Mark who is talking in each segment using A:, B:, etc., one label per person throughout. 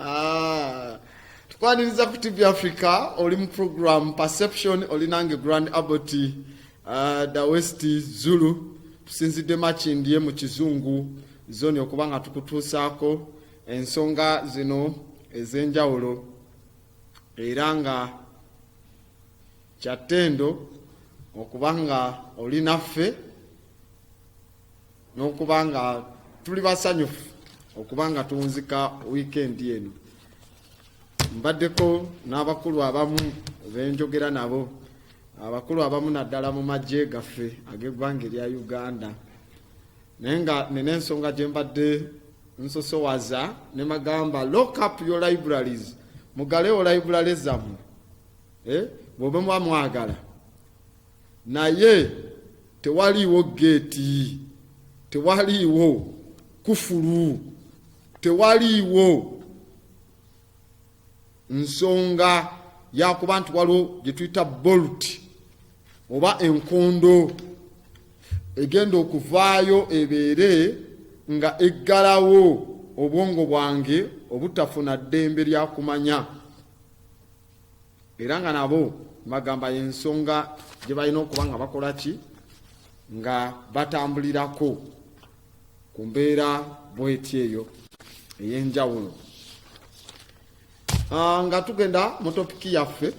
A: Ah, tukwaniriza ku tv africa oli mu program perception oli nange grand abot uh, ah, the west zulu tusinzidde makindye mu kizungu zoni okuba nga tukutuusaako ensonga zino ez'enjawulo era nga kyattendo okuba nga oli naffe n'okuba nga tuli basanyufu okuba nga tunzika wiikendi eno mbaddeko n'abakulu abamu benjogera nabo abakulu abamu naddala mu magye gaffe ag'eggwanga erya uganda naye nga nina ensonga gye mbadde nsosowaza ne magamba lock up your libraries mugalewo library zammwe eh, bwobe muba mwagala naye Tewaliiwo geeti, tewaliiwo kufulu, tewaliiwo nsonga yakuba nti waliwo gye tuyita bolt oba enkondo egenda okuvaayo ebeere nga eggalawo obwongo bwange obutafuna ddembe lya kumanya. era nga nabo bagamba yensonga gye balina okuba nga bakola ki nga batambulirako ku mbeera bweti eyo ey'enjawulo ah, nga tugenda mu topiki yaffe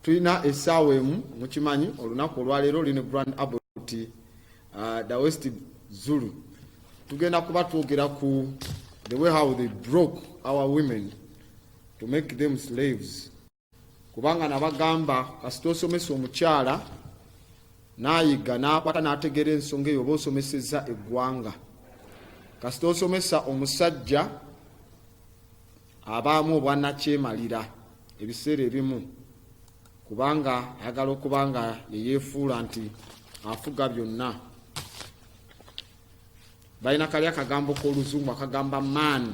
A: tulina essaawa emu mukimanyi olunaku olwaleero lino grand abot ah, the west zulu tugenda kuba twogera ku the way how they broke our women to make them slaves kubanga nabagamba kasita osomesa omukyala nayiga nakwata nategeera ensonga eyo oba osomeseza eggwanga kasita osomesa omusajja abaamu obwanakyemalira ebiseera ebimu kubanga ayagala okuba nga yeyefuula nti afuga byonna balina kali akagambo k'oluzungu akagamba maani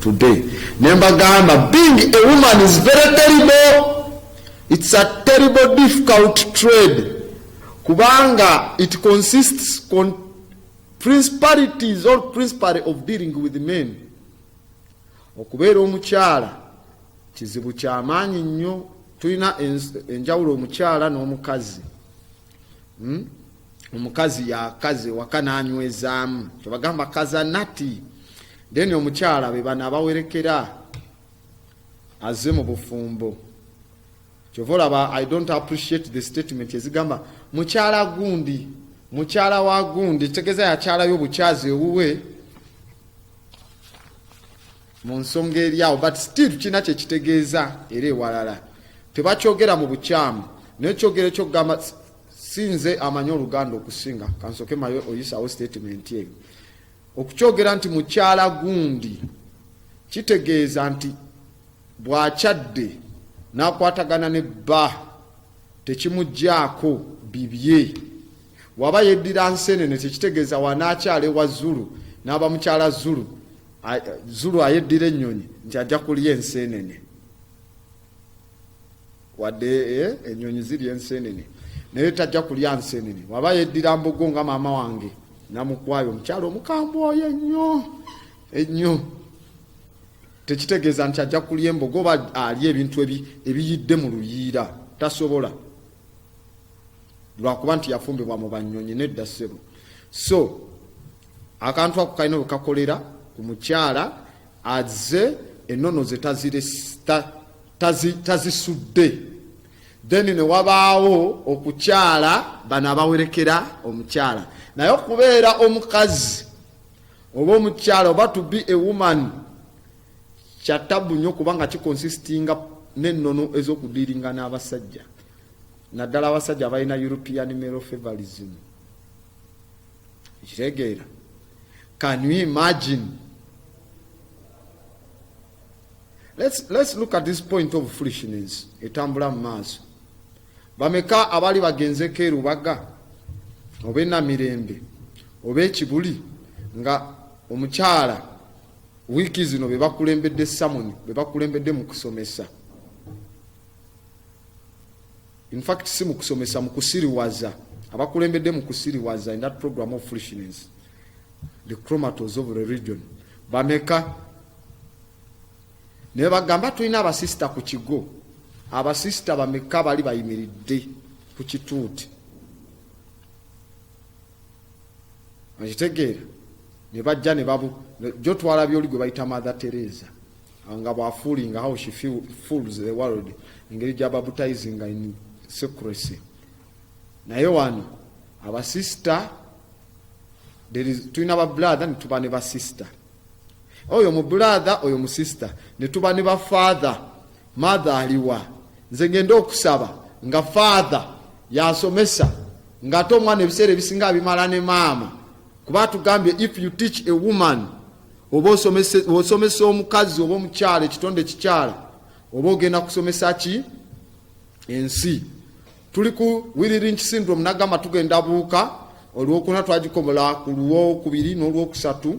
A: today nembagamba being a woman is very terrible it's a terrible difficult trade kubanga it consists con principalities or principally of dealing with men okubeera omukyala kizibu kyamaanyi nnyo tulina enjawulo omukyala n'omukazi hmm? omukazi yakaze waka nanywezaamu kyebagamba kaza nati then omukyala bebano abawerekera aze mu bufumbo kyova olaba i don't appreciate the statement ezigamba mukyala gundi mukyala wa gundi tegeza yakyalayo obukyazi ewuwe mu nsonga eri awo but still kirina kyekitegeeza era ewalala tebakyogera mu bukyamu naye kyogera ekyokugamba sinze amanyi oluganda okusinga kansoke mayo oyisawo statement eyo okukyogera nti mukyala gundi kitegeeza nti bwakyadde nakwatagana ne bba tekimugyaako bibye waba yeddira nsenene tekitegeeza wanakyala ewa zulu n'aba mukyala zulu Zulu ayeddira ennyonyi nti ajja kulya enseenene wadde eh, ennyonyi zirya enseenene naye tajja kulya nseenene waba yeddira mbogo nga maama wange namukwayo omukyalo omukambwe oyo ennyo ennyo tekitegeeza nti ajja kulya embogo oba alya ebintu ebiyidde mu luyiira tasobola lwakuba nti yafumbibwa mu banyonyi nedda ssebo so akantu ako kalina wekakolera ku mukyala aze enono ze tazisudde then newabaawo okukyala bano abawerekera omukyala naye okubeera omukazi oba omukyala oba to be a woman kya tabbu nnyo kubanga kikonsisitinga n'ennono ez'okudiiringa n'abasajja naddala abasajja abalina european male favorism ekitegeera can you imagine let's, let's look at this point of foolishness etambula mu maaso bameka abali bagenzeko erubaga oba enamirembe oba ekibuli nga omukyala Wiiki zino be bakulembedde samoni be bakulembedde mu kusomesa infact si mu kusomesa mu kusiriwaza abakulembedde mu kusiriwaza in that program of foolishness the chromatos of religion bameka naye bagamba tulina abasisita ku kigo abasisita bameka bali bayimiridde ku kituuti okitegeera ne bajja ne babu jo twala byoli gwe bayita mother teresa nga bwafuuli nga how she feel, fools the world engeri gya baptizing in secrecy naye wano abasista tulina babrother netuba ne basista oyo mubrathe oyo musista netuba ne bafather Mother aliwa nze ngende okusaba nga father yasomesa nga ate omwana ebiseera ebisinga abimala ne maama kuba tugambye if you teach a woman oba osomesa omukazi oba omukyala ekitonde ekikyala oba ogenda kusomesa ki ensi tuli ku wiririnki syndrome nagamba tugenda buuka olwokuna twagikobola ku lwokubiri n'olwokusatu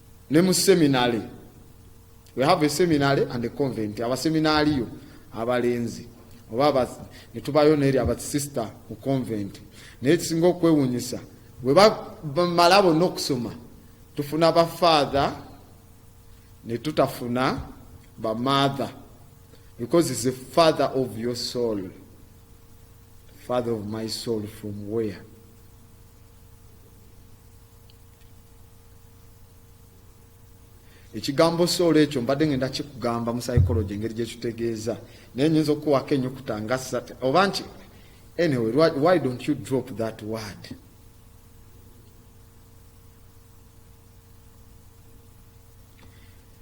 A: ne mu seminary we have a seminary and a convent abaseminaaliyo abalenzi oba ne tubayo neeri abasisita mu convent naye kisinga okwewunyisa bwe bamala bonna okusoma tufuna bafaatha ne tutafuna bamaatha because is the father of your soul father of my soul from where ekigambo soolo ekyo mbadde ngenda kikugamba mu psychology engeri gyekitegeeza naye nyinza okukuwako enyukuta nga sat oba nti anyway why don't you drop that word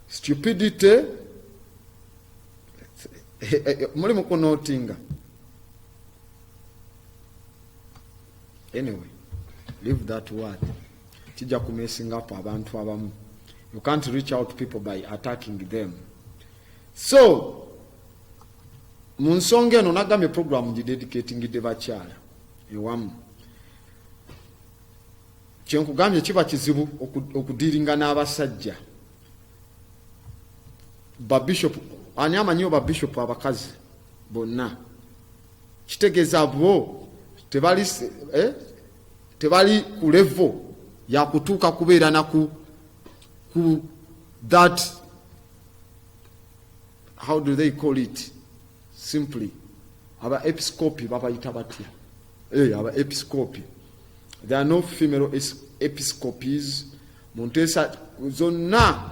A: stupidity eh, eh, eh, mulimu kunotinga anyway leave that word kijja ku messing up abantu abamu you can't reach out to people by attacking them so mu nsonga eno nagambye programu ngidedicatingidde bakyala ewamu kyenkugambye kiba kizibu okudiringa n'abasajja babishop ani amanyiwo babishop abakazi bonna kitegeeza bo tebali eh, tebali ku levo yakutuuka kubeera naku ku that how do they call it simply aba episcopi babayita batya hey, eh, aba episcopi there are no female episcopes mu nteesa zonna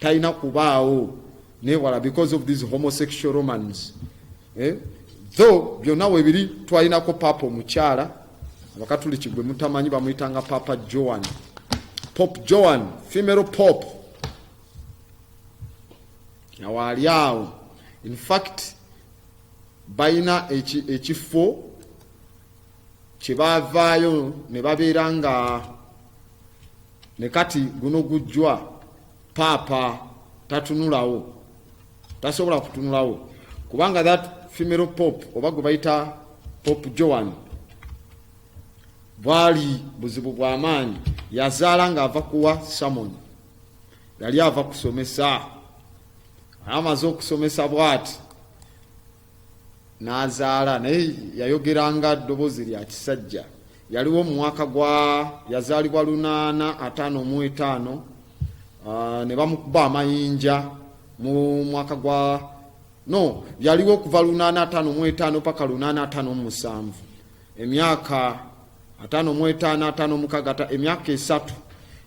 A: talina kubaawo newala because of these homosexual romans eh? tho byonna webiri twalinako paapa omukyala abakatuliki gwe mutamanyi bamuyitanga paapa joan pop joan femero pop nawaali awo infact balina ekifo kyebavaayo ne babeera nga ne kati guno gujjwa paapa tatunulawo tasobola kutunulawo kubanga that female pop oba gwe bayita pop joan bwali buzibu bwa maanyi yazaala ng'ava kuwa samoni yali ava kusomesa amaze okusomesa bwati n'azaala naye yayogeranga ddoboozi lya kisajja yaliwo mu mwaka gwa yazaalibwa lunaana ataano mu etaano ah, ne bamukuba amayinja mu mwaka gwa no yaliwo okuva lunaana ataano mu etaano paka lunaana ataano mu musanvu emyaka ataano mu etaano ataano mukaaga emyaka esatu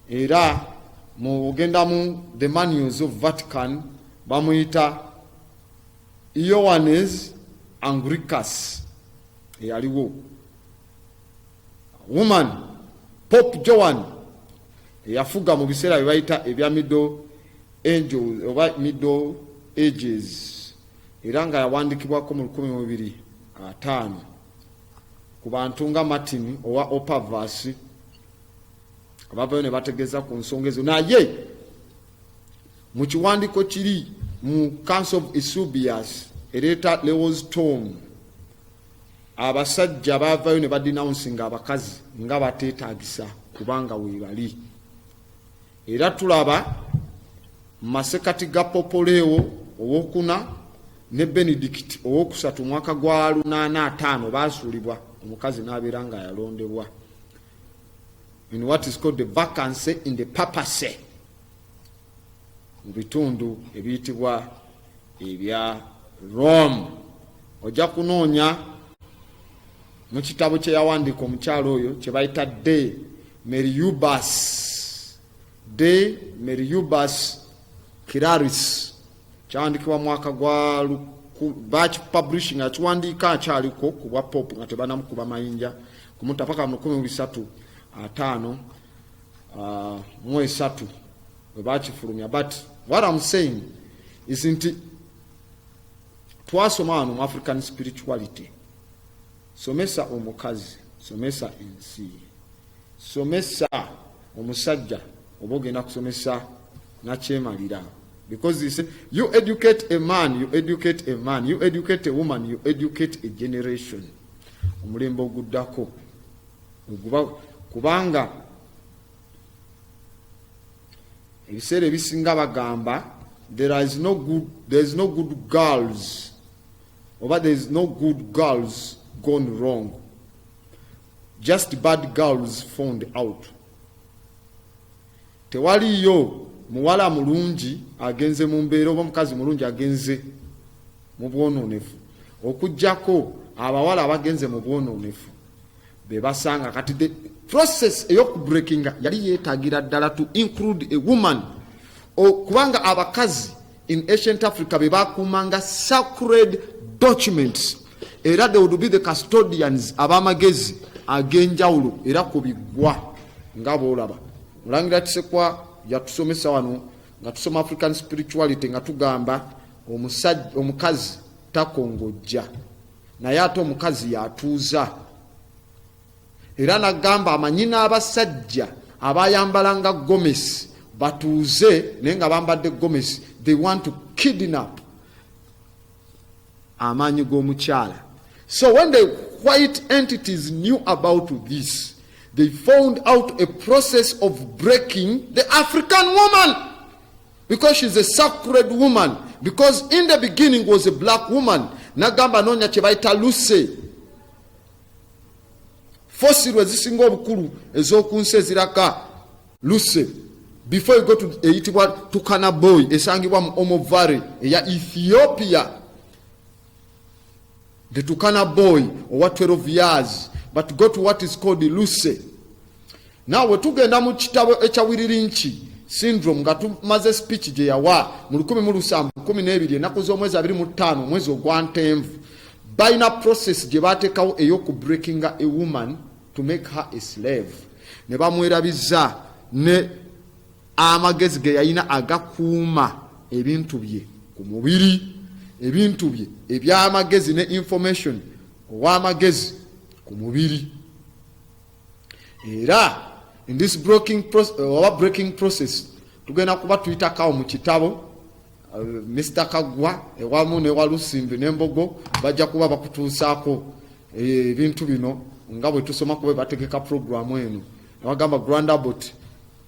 A: era mu ogendamu the manuals of vatican bamuyita Ioannes Anglicus eyaliwo woman Pope Joan eyafuga mu biseera bye bayita ebya middle angels oba middle ages era nga yawandikibwako mu lukumi mubiri ataano ku bantu nga martin owa opavas abavayo ne bategeeza ku nsonga ezo naye Mu kiwandiiko kiri mu Council of Eusebius ereeta Lewis Tom abasajja baavayo ne badinawunsi nga abakazi nga bateetagisa kubanga weebali era tulaba mu masekati ga popoleewo owokuna ne benedikiti owokusatu omwaka gwa lunaana ataano baasuulibwa omukazi n'abeera nga yalondebwa in what is called the vacancy in the papacy mu bitundu ebiyitibwa ebya Rome. Ojja kunoonya mu kitabo kye yawandiika omukyalo oyo kye bayita De Meriubas, De Meriubas Kiraris, kyawandikibwa mwaka gwa baki publishing akiwandiika akyaliko ku bwa pop nga tebanamukuba mayinja kumutapaka mu lukumi mu bisatu ataano uh, mu esatu we bakifulumya but what am saying is nti twasoma wano mu african spirituality somesa omukazi somesa ensi somesa omusajja oba ogenda kusomesa nakyemalira because he said you educate a man you educate a man you educate a woman you educate a generation omulembe oguddako kubanga ebiseera ebisinga bagamba there is no good, there is no good girls oba there is no good girls gone wrong just bad girls found out tewaliyo muwala mulungi agenze mu mbeera oba omukazi mulungi agenze mu bwonoonefu okujjako abawala abagenze mu bwonoonefu bebasanga kati the process eyokubreakinga yali yetagira ddala to include a woman kubanga abakazi in ancient africa bebakuumanga sacred documents era they would be the custodians abamagezi agenjawulo era ku biggwa nga boolaba mulangira kisekwa yatusomesa wano nga tusoma african spirituality nga tugamba omukazi takongojja naye ate omukazi yatuuza era nagamba amanyi n'abasajja abayambala nga gomesi batuuze naye nga bambadde gomesi they want to kidnap amaanyi g'omukyala so when the white entities knew about this they found out a process of breaking the african woman because she's a sacred woman because in the beginning was a black woman nagamba nonya kyebayita luse fosirwe zisinga obukulu ezokunsi eziraka luse before you go to eyitibwa tukana boy esangibwa mu omovary eya ethiopia the tukana boy owa 12 years but go to what is called lucy naawe tugenda mu kitabo ekya wiririnki syndrome nga tumaze speech gye yawa mu 112 enaku z'omwezi 25 omwezi ogwa ntenvu balina process gye bateekawo ey'oku breakinga a woman to make her a slave ne bamwerabiza ne amagezi ge yalina agakuuma ebintu bye ku mubiri ebintu bye eby'amagezi ne information ow'amagezi ku mubiri era in this breaking process, uh, breaking process tugenda kuba tuyitakawo mu kitabo uh, Mr Kagwa ewamu ne Walusimbi ne Mbogo bajja kuba bakutuusaako eh, ebintu bino nga bwe tusoma kuba bategeka programu eno abagamba grandabot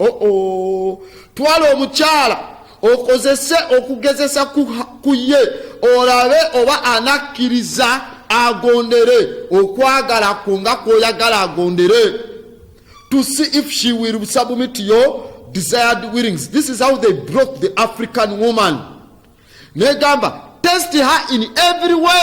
A: oo twala omukyala okozese okugezesa ku ye olabe oba anakkiriza agondere okwagala kwo nga kwoyagala agondere to see if she will submit your desired willings this is how they broke the african woman negamba test her in every way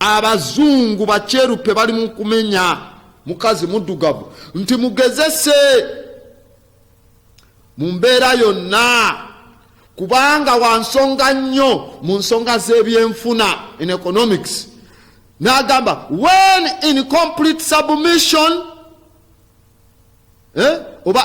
A: abazungu bakyerupe bali mu kumenya mukazi muddugavu nti mugezese mu mbeera yonna kubanga wansonga nnyo mu nsonga z'ebyenfuna in economics n'agamba when in complete submission eh? oba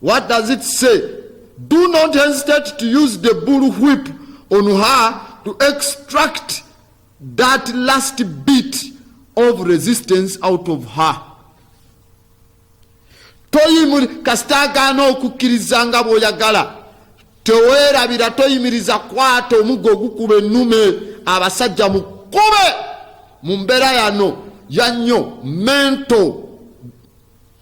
A: What does it say? Do not hesitate to use the bull whip on her to extract that last bit of resistance out of her. toyimuli kasita agaana okukkiriza nga bw'oyagala teweerabira toyimiriza kwata omuggo ogukuba ennume abasajja mukube mu mbeera yano yannyo mento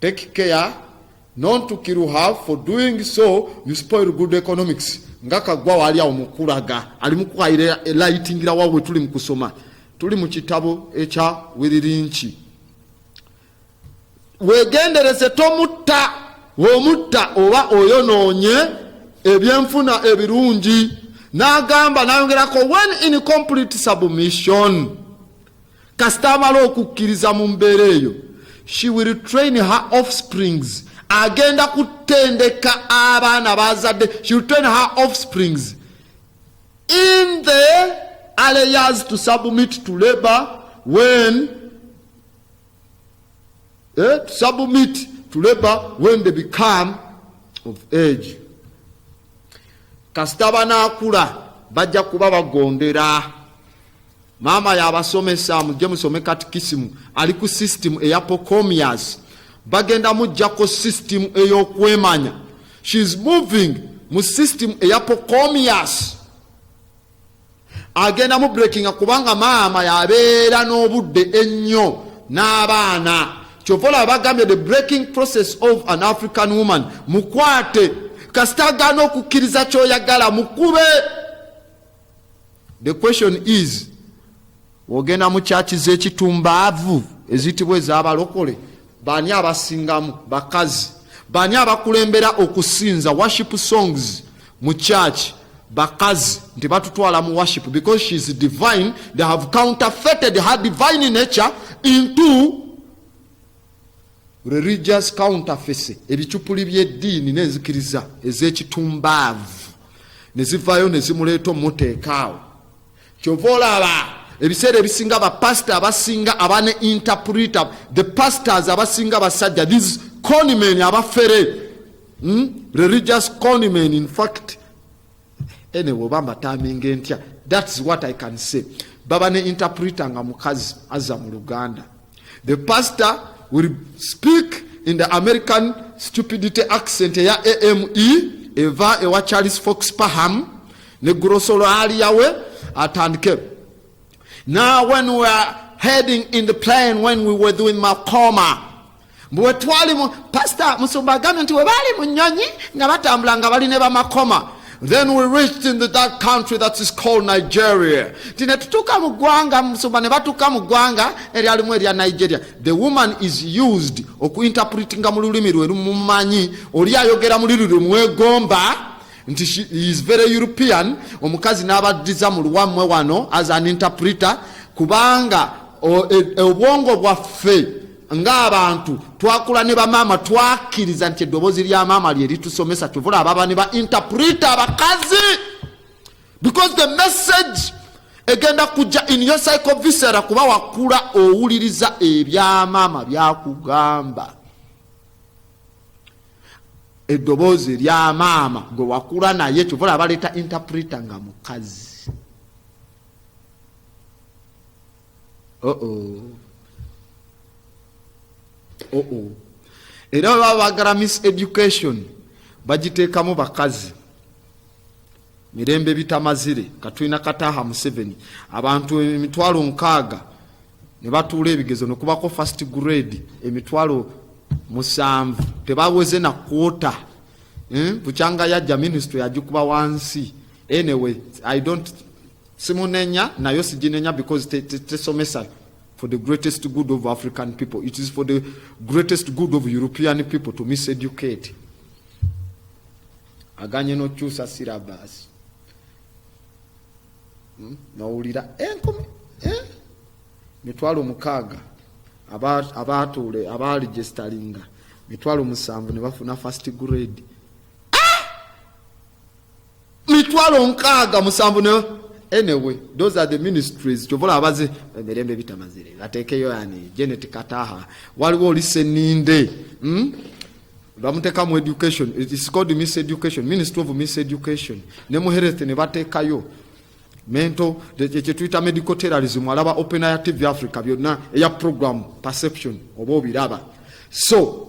A: take care not to kill her for doing so you spoil good economics nga kagwa wali awo mukulaga ali mukwayira lightingira wawe tuli mukusoma tuli mu kitabo ekya wiririnki wegendereze tomutta omutta oba oyonoonye ebyenfuna ebirungi n'agamba nayongerako when in complete submission kasita amala okukkiriza mu mbeera eyo she will train her offsprings agenda kutendeka abaana bazadde she will train her offsprings in the aleyers to submit to labor when eh, to submit to labor when they become of age kasita banaakula bajja kuba bagondera maama yabasomesa mujje musome katikisimu ali ku system eya pocomias bagenda mujjako system eyokwemanya shes moving mu system eya pocomias agenda mu breakinga kubanga maama yabeera n'obudde ennyo n'abaana kyova olaba bagambye the breaking process of an african woman mukwate kasita agaana okukkiriza kyoyagala mukube The question is ogenda mu kyaki z'ekitumbaavu eziyitibwa ez'abalokole baani abasingamu bakazi baani abakulembera okusinza worship songs mu kyaki bakazi nti batutwala mu worship because she is divine they have counterfeited her divine nature into religious counterface ebicupuli by'eddiini n'enzikiriza ez'ekitumbaavu ne zivaayo ne zimuleeta omuteekaawo kyova olaba ebiseera ebisinga bapasita abasinga abane interpreter the pastors abasinga basajja these conimen abafere hmm? religious conimen in fact ene woba mbataminge ntya thats what i can say baba ne interpreter nga mukazi aza mu luganda the pastor will speak in the american stupidity accent eya ame eva ewa charles fox paham ne grosolo aliyawe atandike now when we are heading in the plane when we were doing macoma mbu wetwali mu pasita musumba agambye nti webaali mu nyonyi nga batambula nga bali ne bamakoma then we reached in the, that country that is called nigeria nti netutuuka mu ggwanga musumba ne batuuka mu ggwanga eryalimu erya nigeria the woman is used okuinterpretinga mu lulimi lwe lumumanyi oli ayogera muliri lwe mwegomba nti she is very european omukazi n'abaddiza mu luwammwe wano as an interpreter kubanga e, e, obwongo bwaffe ng'abantu twakula ne bamaama twakkiriza nti eddoboozi lya maama lye litusomesa kyovula ababa ne ba interpreta abakazi because the message egenda kujja in your cycle visera kuba wakula owuliriza ebyamaama byakugamba eddoboozi erya maama gwe wakula naye kyovula abaleeta interpreta nga mukazi oh -oh. Oh -oh. era bwe baba bagala miss education bagiteekamu bakazi mirembe bitamazire katulina kataha museveni abantu emitwalo nkaaga ne batuula ebigezo nekubako first grade emitwalo musanvu tebaweze na kwota hmm? bukyanga yajja ministry yagikuba wansi anyway i don't Simunenya nayo sijinenya because tesomesa te, te for the greatest good of African people. It is for the greatest good of European people to miseducate. Aganye no chusa syllabus. Hmm? Nawulira enkumi eh, eh? mitwalo mukaaga abaatuule abaaligestalinga mitwalo musanvu ne bafuna first grade mitwalo nkaaga musanvu ne anyway those are the ministries kyovola abaze emirembe bitamazire ateekeyo yani genet kataha waliwo oli seninde hmm? bamuteka mu education it's called miss education ministry of miss education ne mu health ne batekayo mento kyetuyita medical terrorism alaba open ya tv africa byonna eya program perception oba obiraba so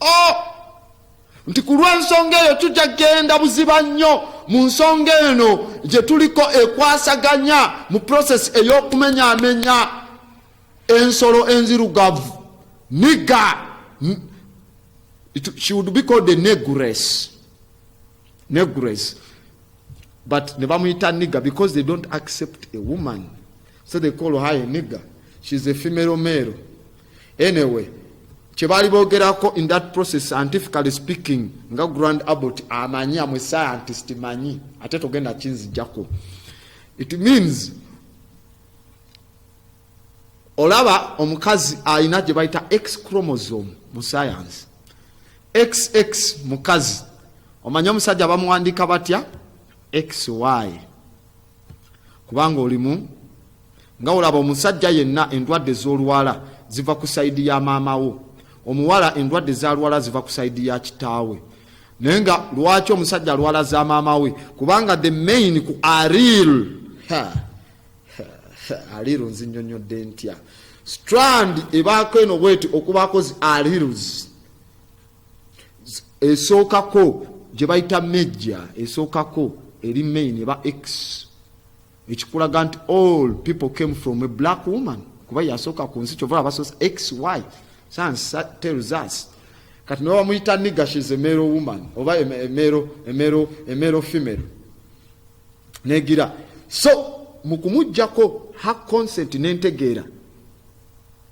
A: oh! nti ku lw'ensonga eyo tujja kugenda buziba nnyo mu nsonga eno gye tuliko ekwasaganya mu prosesi ey'okumenyaamenya ensolo enzirugavu niga she would be called a negress negress but ne bamuyita niga because they don't accept a woman so they call her a nigger she's a female male anyway kyebaali boogerako in that process scientifically speaking nga grand abot amanyi amwe scientist manyi ate togenda kinzijako it means olaba omukazi alina gye bayita x chromosome mu science xx mukazi omanyi omusajja bamuwandiika batya xy kubanga olimu nga olaba omusajja yenna endwadde z'olwala ziva ku sayidi ya maama wo omuwala endwadde zalwala ziva ku sayidi ya kitaawe naye nga lwaki omusajja alwala za maama we kubanga the main ku aril aril nzinyonyodde ntya strand ebaako eno bweti okubaako zi arilz esookako gye bayita mejja esookako eri main eba x ekikulaga nti all people came from a black woman kuba yasooka ku nsi kyova abasoosa xy sansa tells us kati nawe bamuyita nigga shes emero woman oba emero emero emero female negira so mu kumugjako ha consent nentegeera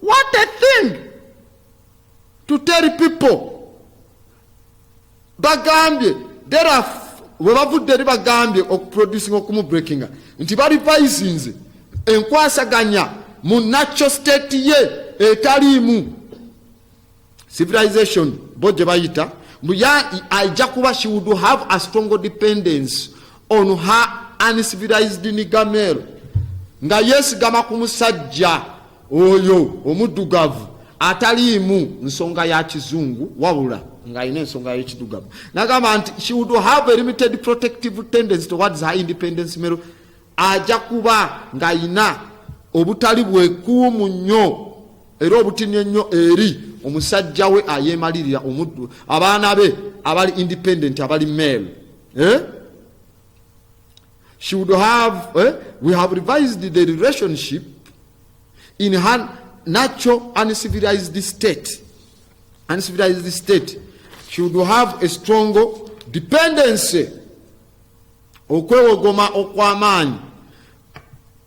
A: What a thing to tell people bagambye dera webavudde eri bagambye okuproducinga okumubreakinga nti balivisinze enkwasaganya mu nacho state ye etaliimu civilization bo gye bayita ajja kuba she would have a strong dependence on her uncivilized nigamel nga yesigama ku musajja oyo omuddugavu ataliimu nsonga ya kizungu wabula ng'alina ensonga y'ekidugavu nagamba nti she would have a limited protective tendency towards her independence mero ajja kuba ng'alina obutali bwekuumu nnyo era obutini ennyo eri omusajja we ayeemalirira omuddu abaana be abali independent abali male eh? she would have eh? we have revised the relationship in her natural uncivilized state uncivilized state she would have a strong dependency okwewogoma okw'amaanyi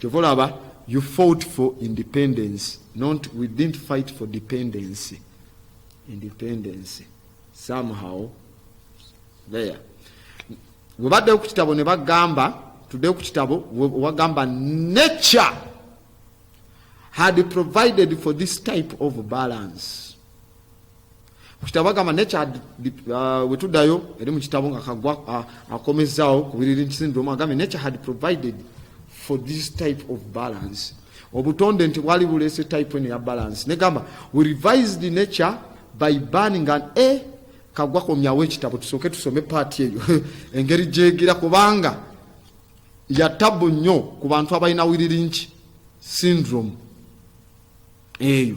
A: kyova olaba you fought for independence not we didn't fight for dependency independence somehow there webaddeyo ku kitabo ne bagamba tuddeyo ku kitabo wagamba nature had provided for this type of balance ku kitabo bagamba naye uh, wetuddayo eri mu kitabo nga kagwa uh, akomezzaawo ku biriri syndrome agambye nature had provided for this type of balance obutonde nti bwali buleese type eno ya balance negamba we revised the nature by burning an a eh, kagwa komyawo ekitabo tusooke tusome paati eyo engeri gyegira kubanga yatabu nnyo ku bantu abalina wiririnki syndrome eyo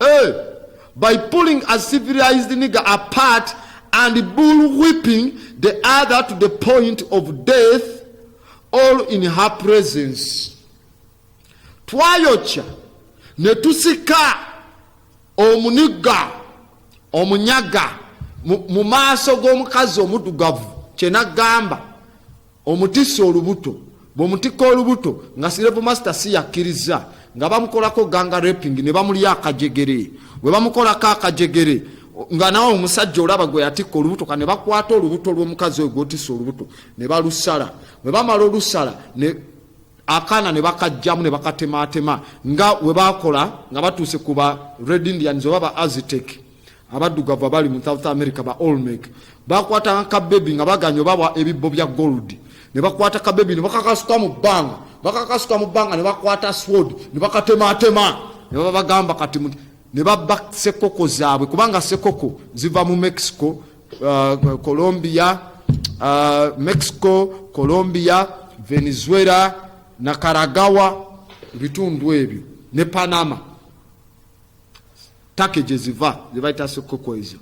A: Hey, by pulling a civilized nigger apart and bull whipping the other to the point of death all in her presence twayokya ne tusika omunigga omunyaga mu maaso g'omukazi omudugavu kyenagamba Omutisse olubuto bw'omutikka olubuto nga Sirevu Masita si yakkirizza nga bamukolako ganga repingi ne bamulya akajegere bwe bamukolako akajegere nga nawe omusajja olaba gwe yatikka olubuto ka ne bakwata olubuto lw'omukazi oyo gwotisa olubuto ne balusala bwe bamala olusala ne akaana ne bakajjamu ne bakatemaatema nga we bakola nga batuuse ku ba red indians oba ba azitek abaddugavu abali mu south america ba olmec bakwatanga kabebi nga baganya obawa ebibbo bya gold ne bakwata kabebi ne bakakasuka mu bbanga bakakasuka mu bbanga ne bakwata sword ne bakatematema ne babagamba kati ne babba sekoko zaabwe kubanga sekoko ziva mu mexico uh, colombia uh, mexico colombia venezuela nakaragawa ebitundu ebyo ne panama take gyeziva zebayita sikuku ezo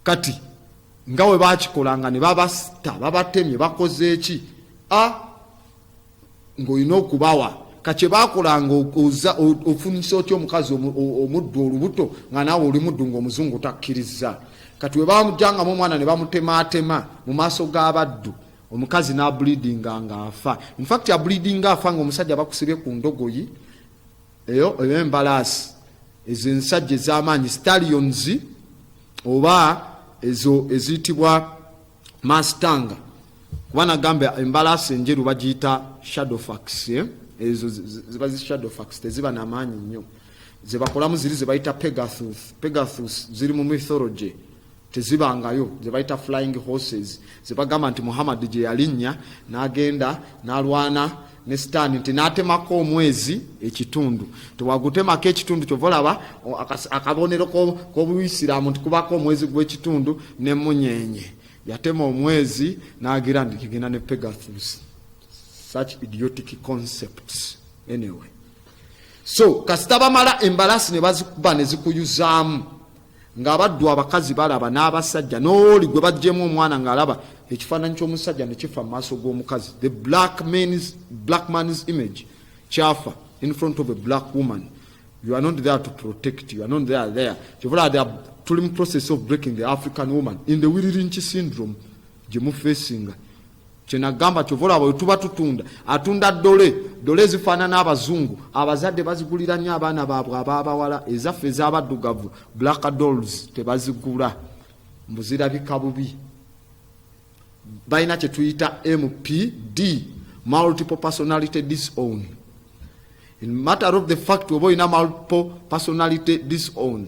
A: kati nga we bakikolanga ne babasita babatemye bakozeeki a ng'olina okubawa kakye bakolanga oza ofunisa otya omukazi omuddu olubuto nga naawe oli muddu ng'omuzungu takkiriza kati we bamujangamu omwana ne bamutemaatema mu maaso g'abaddu omukazi n'abulidinga ng'afa infacti abulidinga afa ng'omusajja bakusibye ku ndogoyi eyo eyo embalaasi ezo ensajja ez'amaanyi stallions oba ezo eziyitibwa mastanga kuba nagamba embalaasi enjeru bagiyita shadowfax eh? ezo ziba zi shadowfax teziba namaanyi nnyo zebakolamu ziri zebayita pegathus pegathus ziri mu mythology tezibangayo zebayita flying horses zebagamba nti muhammad gyeyalinnya nagenda nalwana ne sitaani nti natemako omwezi ekitundu tewagutemako ekitundu kyova olaba akabonero kobuisiramu nti kubako omwezi gwekitundu nemunyenye yatema omwezi nagira nti kigenda ne pegathus such idiotic concepts anyway so kasita bamala embalasi nebazikuba nezikuyuzaamu ng'abaddu abakazi balaba n'abasajja n'oli gwe baggyemu omwana ng'alaba ekifaananyi ky'omusajja ne kifa mu maaso g'omukazi the black man's, black man's image kyafa in front of a black woman you are not there to protect you are not there there kyovula the tuli mu process of breaking the african woman in the wiririnki syndrome gye mufeesinga kyenagamba kyova olaba wetuba tutunda atunda dole dole ezifaanana abazungu abazadde bazigulira nnyo abaana baabwe abaabawala ezaffe ezabaddugavu black dolls tebazigula mbuzirabika bubi balina kyetuyita mpd multiple personality disown in matter of the fact oba olina multiple personality disown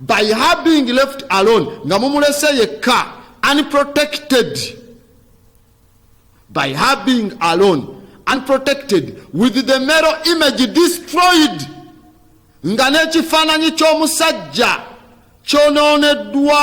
A: by her being left alone nga mumulese yekka unprotected by her being alone unprotected with the mero image destroyed nga n'ekifaananyi ky'omusajja kyonooneddwa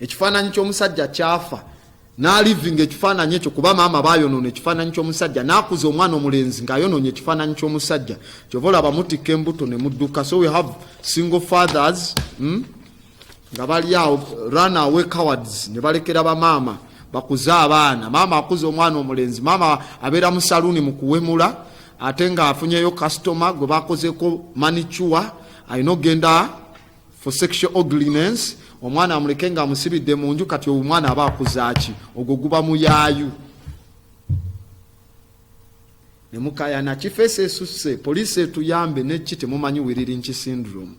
A: ekifaananyi ky'omusajja kyafa n'alivinga ekifaananyi ekyo kuba maama bayonoona ekifaananyi ky'omusajja n'akuza omwana omulenzi ng'ayonoonye ekifaananyi ky'omusajja kyova olaba mutikka embuto ne mudduka so we have single fathers hmm? nga bali awo run away cowards ne balekera bamaama bakuze abaana maama akuza omwana omulenzi maama abeera mu saluuni mu kuwemula ate ng'afunyeyo kasitoma gwe bakozeko manicuwa alina okugenda for sexual ugliness omwana amuleke nga amusibidde mu nju kati omwana aba akuzaaki ogwo guba muyaayu nemukayana kifeesi esusse poliisi etuyambe nekki temumanyi wiririnki syndrome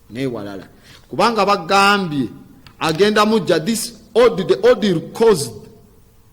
A: newalala kubanga bagambye agenda mujja this order, the order caused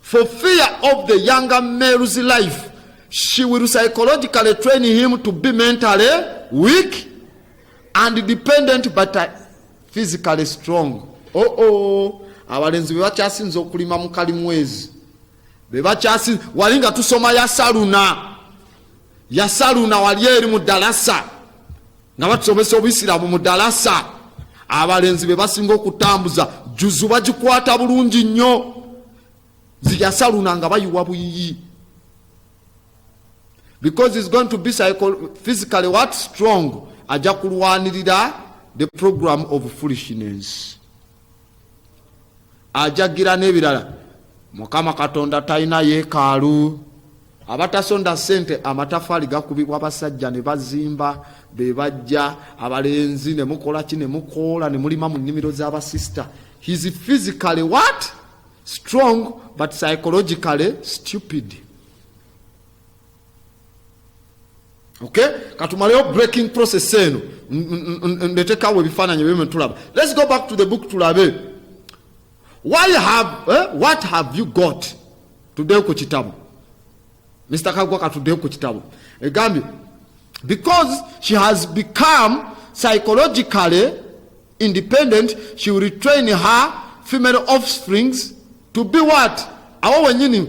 A: For fear of the younger male's life, she will psychologically train him to be mentally weak and dependent but uh, physically strong. Oh oh, abalenzi be bakyasinza okulima mu kalimwezi be bakyasinza wali nga tusoma yasaluna yasaluna wali eri mu dalasa nga batusomesa obusiraamu mu dalasa abalenzi be basinga okutambuza juzu bagikwata bulungi nnyo ziyasaluna nga bayiwa buyiyi because is going to be physically what strong ajja kulwanirira the program of foolishness ajagira n'ebirala mukama katonda talina yeekaalu abatasonda sente amatafaali gakubibwa basajja ne bazimba be bajja abalenzi ne mukola ki ne mukoola ne mulima mu nnimiro z'abasisita his physically what strong but psychologically stupid okay katumaleyo breaking process eno ndetekawo ebifaananyi ebyo tulaba let's go back to the book tulabe why have eh? what have you got tuddeyo ku kitabu mr kagwa katuddeyo ku kitabu egambye because she has become psychologically independent she will retrain her female offsprings to be what awo wenyini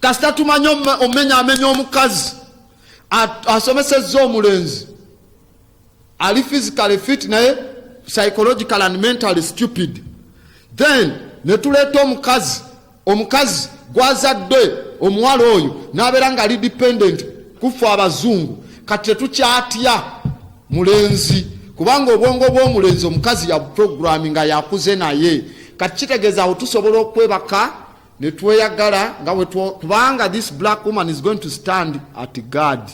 A: kasita tumanyi omumenya amenya omukazi asomesezza omulenzi ali physically fit naye psychological and mentally stupid then netuleeta omukazi omukazi gwazadde omuwala oyo nabeera nga ali dependent kuffe abazungu kati tetukyatya mulenzi kubanga obwongo bw'omulenzi omukazi ya programming nga yakuze naye kati kitegeeza awo tusobola okwebaka ne tweyagala nga kubanga this black woman is going to stand at guard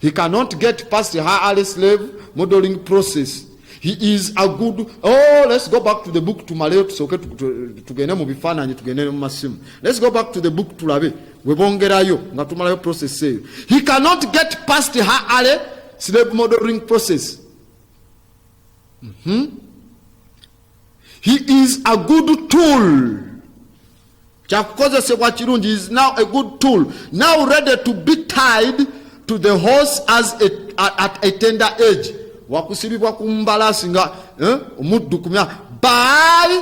A: he cannot get past her early slave modeling process he is a good oh let's go back to the book tumaleyo tusooke tugende mu bifaananyi tugende ne mu masimu let's go back to the book tulabe webongerayo nga tumalayo process eyo he cannot get past her ale slave modeling process mm -hmm. he is a good tool kyakukozesebwa kirungi is now a good tool now ready to be tied to the horse as a, a, at a tender age wakusibibwa ku mbalasi nga eh, omuddu kumya by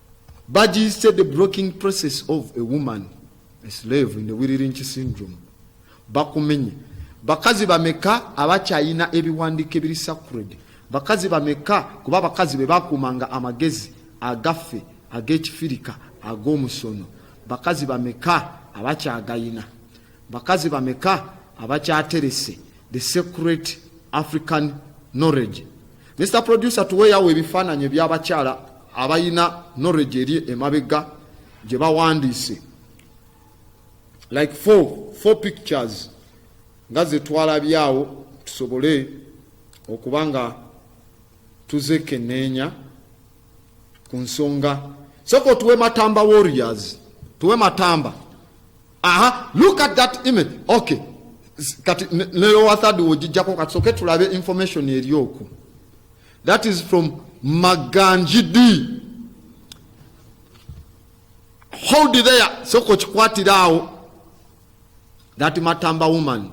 A: Baji said the broking process of a woman a slave in the Wiririnchi syndrome bakumenye bakazi bameka abakyayina ebiwandiiko ebiri sacred bakazi bameka kuba abakazi be bakuumanga amagezi agaffe ag'ekifirika ag'omusono bakazi bameka abakyagayina Bakazi bameka abakyaterese the secret African knowledge. Mr producer tuweyawo ebifaananyi ebyabakyala abalina knowledge eri emabega gye bawandiise like four, four pictures nga zetwalabyawo tusobole okuba nga tuzekeneenya ku nsonga soko tuwe matamba warriors tuwe matamba aha look at that image okay kati nelowa third wojijjako kati soke tulabe information eri oku that is from maganji d hold there soko kikwatira awo that matamba woman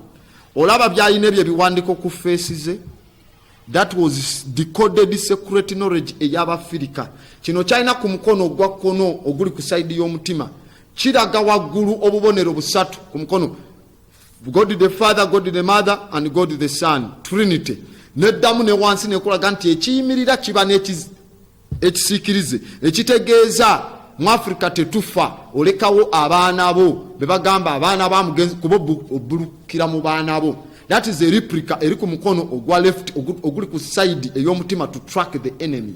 A: olaba byalina ebyo ebiwandiko ku feesi ze That was decoded secret knowledge ey'Abafirika. Kino kyalina ku mukono ogwa kkono oguli ku sayidi y'omutima kiraga waggulu obubonero busatu ku mukono God the Father, God the Mother and God the Son, Trinity. Neddamu ne wansi nekulaga nti ekiyimirira kiba ekisiikirize ekitegeeza mu afirika tetufa olekawo abaana bo bebagamba abaana bamugenzi kuba obulukira mu baana bo that is eriprika eri ku mukono ogwa left oguli ku side ey'omutima to track the enemy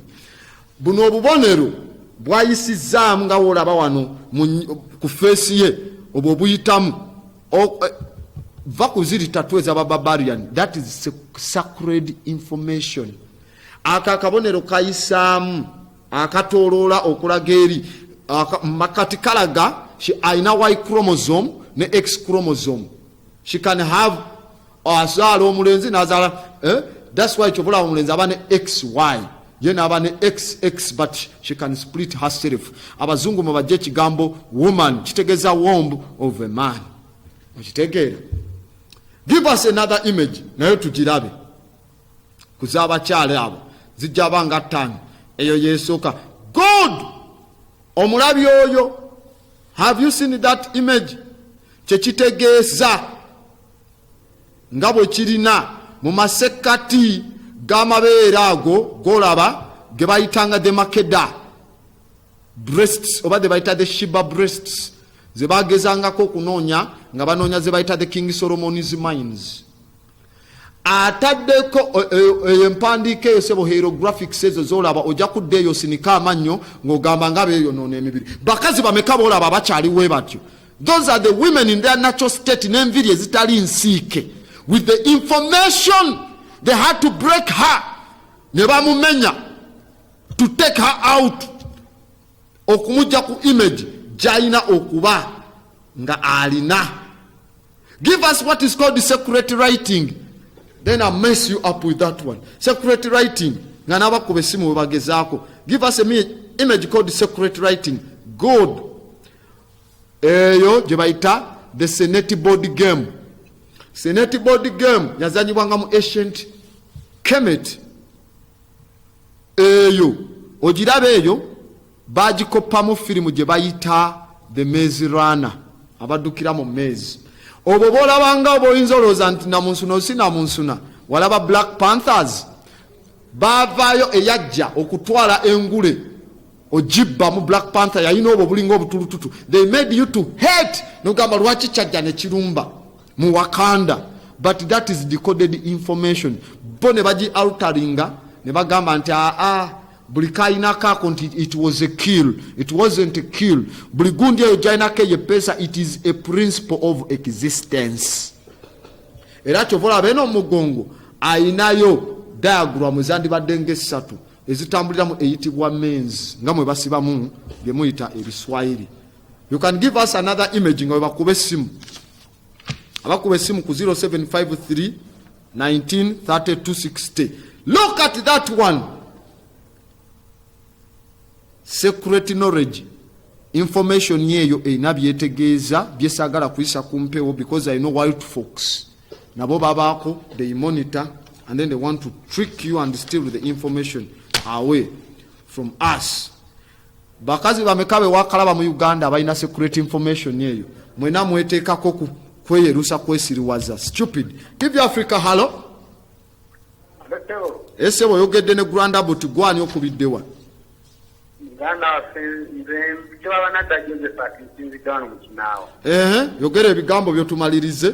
A: buno obubonero bwayisizzaamu nga wolaba wano ku feesi ye obwo obuyitamu eh, va kuziri tatu ezabababarian that is sacred information ako akabonero kayisaamu akatoloola okulaga eri makati kalaga alina y chromosome ne x chromosome she can have azaala omulenzi nazaala eh? thats why kyobulawo omulenzi aba ne xy ye naaba ne xx but she can split herself abazungu mubajja ekigambo woman kitegeza womb of a man okitegeera give us another image naye tugirabe ku z'abakyala abo zijja ba nga ttaano eyo yesooka god omulabi oyo have you seen that image kyekitegeeza nga bwe kirina mu masekkati g'amabeere ago golaba ge bayitanga the makeda breasts oba ze bayita the shiba breasts ze bagezangako okunoonya nga banoonya ze bayita the king solomon's mines ataddeko eyo empandiika eyo sebo hierographics ezo zolaba ojja kudda eyo sinika amannyo ng'ogamba nga beeyonoona emibiri bakazi bameka boolaba bakyali we batyo those are the women in their natural state n'enviri ezitali nsiike with the information they had to break her ne bamumenya to take her out okumujja ku image gyalina okuba nga alina give us what is called secret writing then i mess you up with that one secret writing nga nabakuba esimu webagezaako give us a image called secret writing good eyo gye bayita the senate board game senate board game yazanyibwanga mu ancient kemet eyo ogiraba eyo bagikoppamu firimu gye bayita the maize runner abaddukira mu maize obwo bolabanga oba oyinza olowooza nti namunsuna osi namunsuna walaba black panthers bavaayo eyajja okutwala engule ojibba mu black panther yalina obwo obulinga obutulututu they made you to hate nogamba lwaki kyajja nekirumba mu wakanda but that is decoded information bo ne bagi alteringa ne bagamba nti aa ah, ah, buli kainako ako nti it was a kill it wasn't a kill buli gundi eyo gyainako eyo epeesa it is a principle of existence era kyova olaba eno omugongo ayinayo diagram ezandibadde nga essatu ezitambuliramu eyitibwa mens nga mwe basibamu byemuyita ebiswayiri you can give us another image nga webakuba essimu abakuba esimu ku 0753 193260 look at that one secret knowledge information yeeyo erina byetegeeza byesaagala kuyisa ku mpewo because i know wild fox nabo babaako they monitor and then they want to trick you and steal the information away from us Bakazi bameka bewakalaba mu Uganda abalina security information eyo? Mwena mwetekako ku kweyerusa kwesiriwaza stupid tv africa halo ese boyogedde ne granda but gwani okubiddewa yogera ebigambo byotumalirize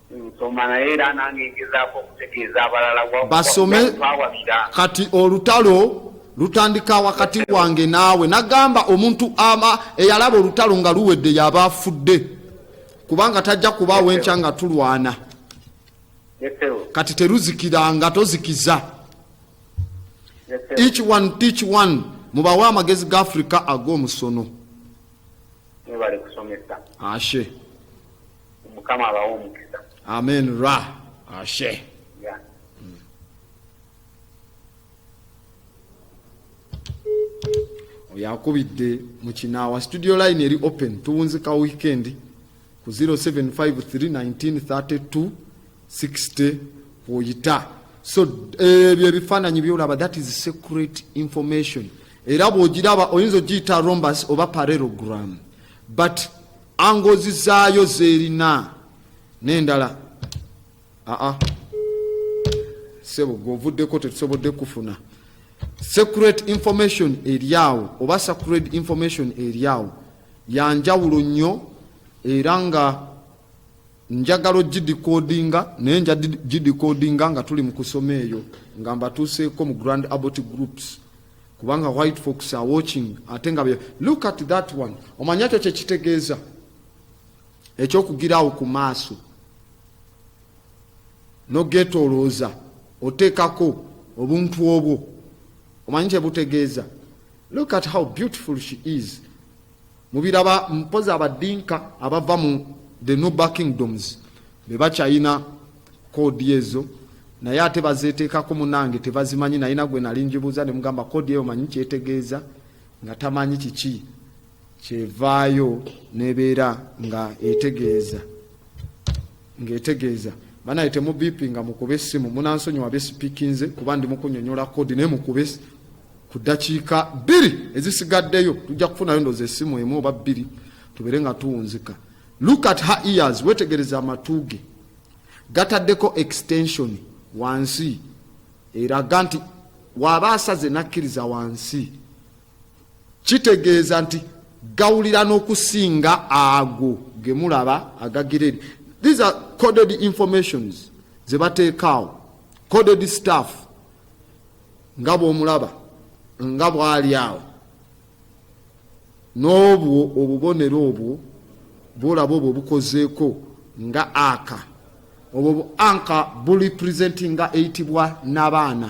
B: nsoma naye era nange ngezaako okutegeeza abalala
A: basome kati olutalo lutandika wakati wange naawe nagamba omuntu ama eyalaba olutalo nga luwedde yaba afudde kubanga tajja kubaawo enkya nga tulwana kati teruzikiranga tozikiza each one teach one mubawe amagezi ga africa ag'omusono ashe
B: mukama abawa omukisa
A: amen ra ashe yeah. oyo akubidde mu kinaawa studio line eri open tuwunzika weekend ku 0753193260 kwoyita so ebyo ebifaananyi byolaba that is secret information era bwogiraba oyinza ogiyita rombus oba parelogram but angozi zaayo zerina nendala aa sebo gwovuddeko tetusobodde kufuna secret information eryawo oba sacred information eryawo yanjawulo nnyo era nga njagala ogidikoodinga naye nja gidikoodinga nga tuli mu kusoma eyo nga mbatuuseeko mu grand abot groups kubanga white fox are watching ate nga look at that one omanya kyo kyekitegeeza ekyokugiraawo ku maaso nogetolooza oteekako obuntu obwo omanyi kyebutegeeza look at how beautiful she is mubiraba mpozi abadinka abava mu the nuba kingdoms bebakyayina kodi ezo naye ate bazeteekako munange tebazimanyi naye nagwe nali njibuuza nemugamba kodi eyo manyi kyetegeeza nga tamanyi kiki kyevaayo nebeera nga etegeeza ng'etegeeza banaye temubipi nga mukuba essimu munansonyiwa besipikinze kuba ndi mukunyonyola kodi naye mukube ku ddakiika bbiri ezisigaddeyo tujja kufunayo ndoza essimu emu oba bbiri tubere nga tuwunzika look at her ears wetegereza amatu ge gataddeko extension wansi eraga nti waba asaze nakkiriza wansi kitegeeza nti gawulira n'okusinga ago ge mulaba agagireri these are coded informations ze bateekaawo coded staff nga bw'omulaba nga bw'ali awo n'obwo obubonero obwo bwolaba obwo bukozeeko nga aka obwo bu anka buli presentinga eyitibwa nabaana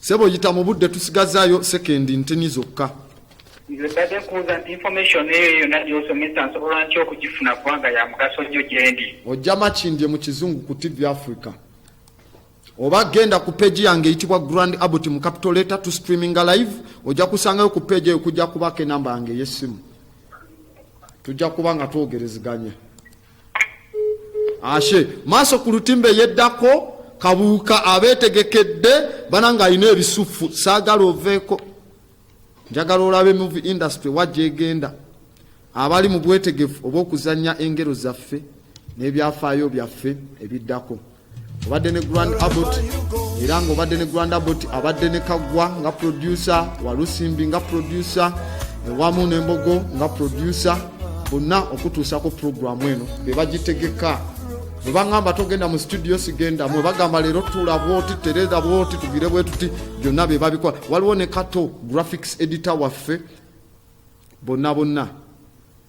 A: sebo yita mu budde tusigazaayo sekendi ntini zokka nze mbadde
B: nkubuuza nti information eyo yonna gyosomesa nsobola ntya okugifuna kubanga ya mugaso nnyo gyendi ojja makindye
A: mu kizungu ku tv africa oba genda ku peegi yange eyitibwa grand abot mu capital letter to streaminga live ojja kusangayo ku peegi eyo kujja kubaako enamba yange ey'essimu tujja kuba nga twogereziganya ashe maaso ku lutimba eyeddako kabuuka abeetegekedde bananga alina ebisuffu saagala oveeko njagala olabe muvi industry wajja egenda abali mu bwetegefu obw'okuzannya engero zaffe n'ebyafaayo byaffe ebiddako obadde ne grand abot era nga obadde ne grand abot abadde ne kaggwa nga producer walusimbi nga producer ewamu nembogo nga producer bonna okutuusako puroguramu eno bebagitegeka bwebagamba togenda mu situdiyo sigenda mwe bagamba leero tuula bwoti tereza bwoti tugire bwe tuti byonna be babikola waliwo ne kato graphics editor waffe bonna bonna